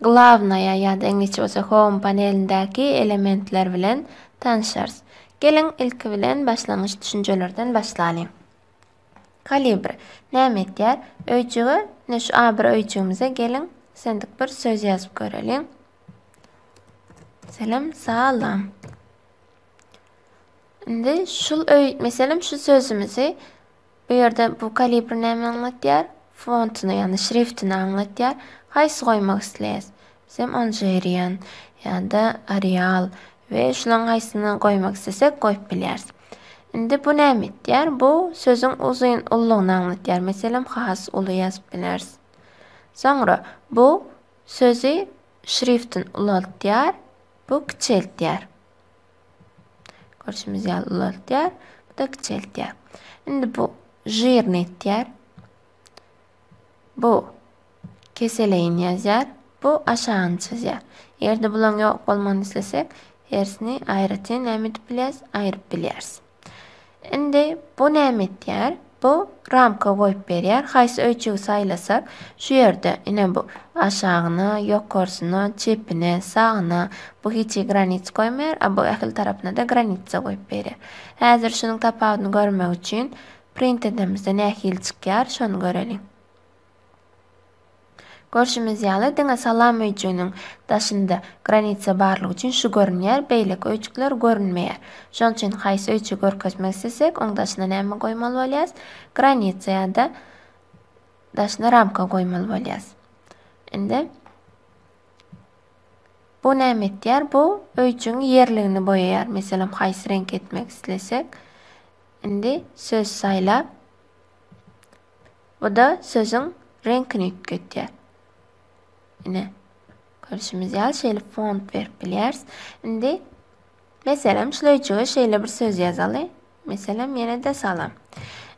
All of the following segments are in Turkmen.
Glawnaýa ýa-da iňlisçe bolsa Home panelindäki elementler bilen tanşarys. Geliň, ilki bilen başlangyç düşünjelerden başlalyň. Kalibr näme etýär? Öýjüge, ine şu A bir öýjügimize geliň, sendik bir söz ýazyp göreliň. Meselem, salam. Indi şul öý, meselem şu sözümizi Bu ýerde bu kalibr näme aňlatýar? Fontyny, ýagny şriftini aňlatýar. Haýsy goýmak isleýäs? Bizem Anjerian ýa-da Arial we şularyň haýsyny goýmak islesek goýup bilýäris. Indi bu näme etýär? Bu sözüň uzyn ululygyny aňlatýar. Meselem, has uly ýazyp bileris. Soňra bu sözi şriftin ulaltýar, bu kiçeltýär. Görşümiz ýaly ulaltýar. Bu-da kiçeltýär. Indi bu žirni etýär. Bu keseleýin ýazýar. Bu aşagyny çizýär. Eger-de bulaň ýok bolmagyny islesek, hersini aýratyn näme edip bilýäris? Aýryp bilýäris. Indi bu näme etýär? Bu ramka goýup berýär. Haýsy öýjügi saýlasak, şu ýerde ine bu aşagyna, ýokarsyna, çepine, sagyna bu hiç hili granit goýmaýar, a bu ähli tarapyna-da granitsa goýup berýär. Häzir şunuň tapawudyny görmek üçin print edemizde nähili çykýar, şony göreliň. Görşümiz ýaly, diňe salam öýjüginiň daşynda granitsa barlygy üçin şu görünýär, beýleki öýjükler görünmeýär. Şonuň üçin haýsy öýjügi görkezmek islesek, oň daşyna näme goýmaly bolýarys? Granitsa ýa-da daşyna ramka goýmaly bolýarys. Indi bu näme etýär? Bu öýjügiň ýerligini boýaýar. Meselem, haýsy reňk etmek islesek, indi söz saýlap, Bu-da sözüň reňkini üýtgetýär. Ine, görşümiz ýaly şeýle font berip bilýäris. Indi, meselem, şuleýjige şeýle bir söz ýazaly. Meselem, ýene-de salam.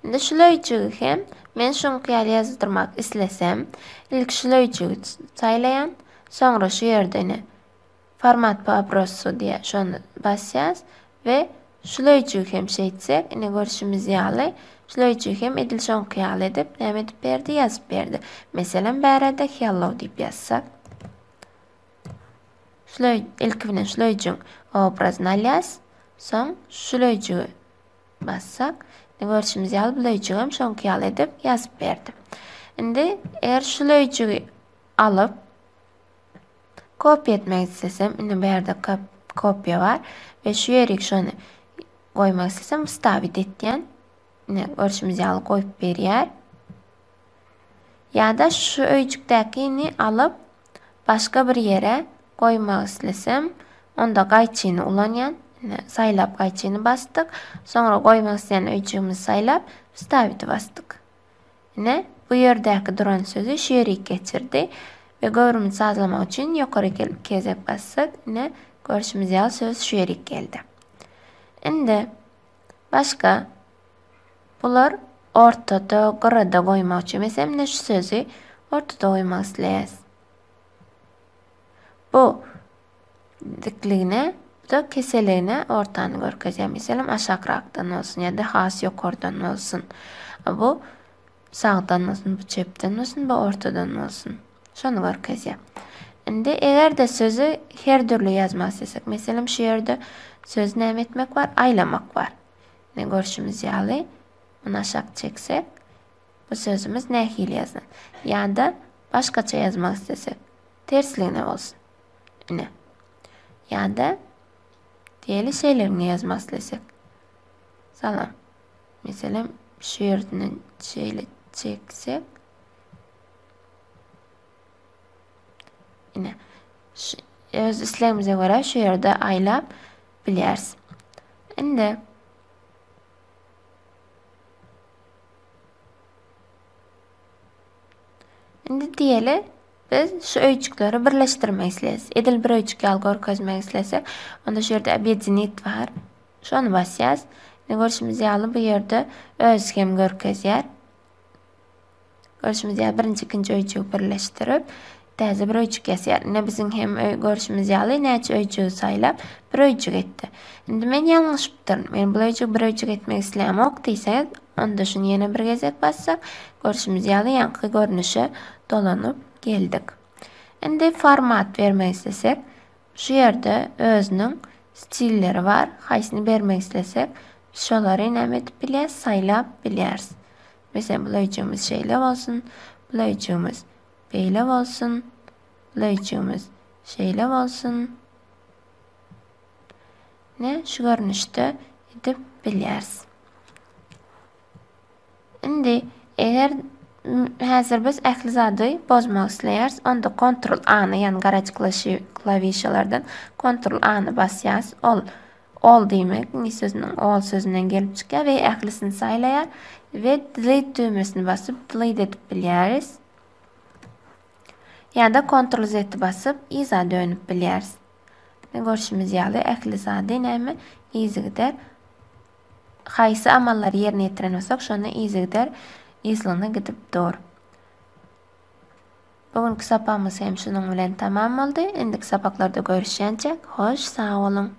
Indi şuleýjigi hem men şuňky ýaly ýazdyrmak islesem, ilki şuleýjigi saýlaýan, soňra şu ýerde ine Format po obrosscu diýýär, şony basýas we şular üçin hem şeýtsek, ine görşümiz ýaly, şular üçin hem edil şoňky ýaly edip, näme edip berdi, ýazyp berdi. Meselem, bärde hello diýip ýazsak. Şular, ilki bilen şular üçin obrazyny alýas, soň şular üçin bassak, ine görşümiz ýaly, bular üçin hem şoňky ýaly edip ýazyp berdi. Indi eger şular üçin alyp, Kopýa etmek islesem, indi bu ýerde kopýa bar we şu ýerik şony goýmak islesem, wstawit etýän. Ine, görşümiz ýaly goýup berýär. Ýa-da şu öýjükdäkini alyp, başga bir ýere goýmak islesem, onda gaýçyny ulanýan. Ine, saýlap gaýçyny basdyk. Soňra goýmak isleýän öýjügimizi saýlap, wstawiti basdyk. Ine, bu ýerdäki duran sözi şerik geçirdi we göwrümini sazlamak üçin ýokary gelip kezek bassak, ine, görşümiz ýaly söz şerik geldi. Indi başga bular ortada, gyrada goýmak üçin. Meselem, ine şu sözi ortada goýmak isleýäs. Bu dikligine, bu-da keseligine ortany görkezýär. Meselem, aşakrakdan bolsun ýa-da has ýokardan bolsun. Bu sagdan bolsun, bu çepden bolsun, bu ortadan bolsun. Şony görkezýär. Indi eger-de sözi her dürli ýazmak istesek, meselem, şu ýerde sözi näme etmek bar? Aýlamak bar. Ne görşümiz ýaly, muny aşak çeksek, bu sözümiz nähili ýazan? Ýa-da başgaça ýazmak istesek, tersligine bolsun. Ine. Ýa-da diýeli şeýlerini ýazmak islesek. Salam. Meselem, şu ýerden şeýle çeksek. Ine. Öz islegimize görä şu ýerde aýlap bilýäris. Indi Indi diýeli Biz şu öýjükleri birleşdirmek isleýäs. Edil bir öýjük ýaly görkezmek islesek, onda şu ýerde Obýedinit bar. Şony basýas. Indi görşümiz ýaly bu ýerde öz hem görkezýär. Görşümiz ýaly birinji, ikinji öýjügi birleşdirip, täze bir öýjük ýasaýar. Ine biziň hem öý görşümiz ýaly näçe öýjügi saýlap, bir öýjük etdi. Indi men ýalňyşypdyryn. Men bu öýjügi bir öýjük etmek isleýämok diýseňiz, onda şuny ýene bir gezek bassak, görşümiz ýaly ýaňky görnüşe Dolanyp geldik. Indi format bermek islesek, şu ýerde özüniň stilleri bar. Haýsyny bermek islesek, biz şolary näme edip bilýäris, saýlap bilýäris. Meselem, bu löýüjigimiz şeýle bolsun, bu löýüjigimiz beýle bolsun, bu löýüjigimiz şeýle bolsun. Ne şu görnüşde edip bilýäris. Indi eger häzir biz ähli zady bozmak isleýäris, onda kontrol A-ny, ýagny garajyklaşy klawişalardan kontrol A-ny basýas. Ol all diýmek, iňlis sözüniň all sözünden gelip çykýar we ählisini saýlaýar we delete düwmesini basyp delete edip bilýäris. Ýa-da kontrol Z-i basyp yza dönüp bilýäris. Görşümiz ýaly ähli zady näme yzygider Haýsy amallary ýerine ýetiren bolsak, şonda yzygider yzlygyna gidip dur. Bu günki sapagymyz hem şunuň bilen tamam boldy. Indiki sapaklarda görüşýänçäk, hoş sag boluň!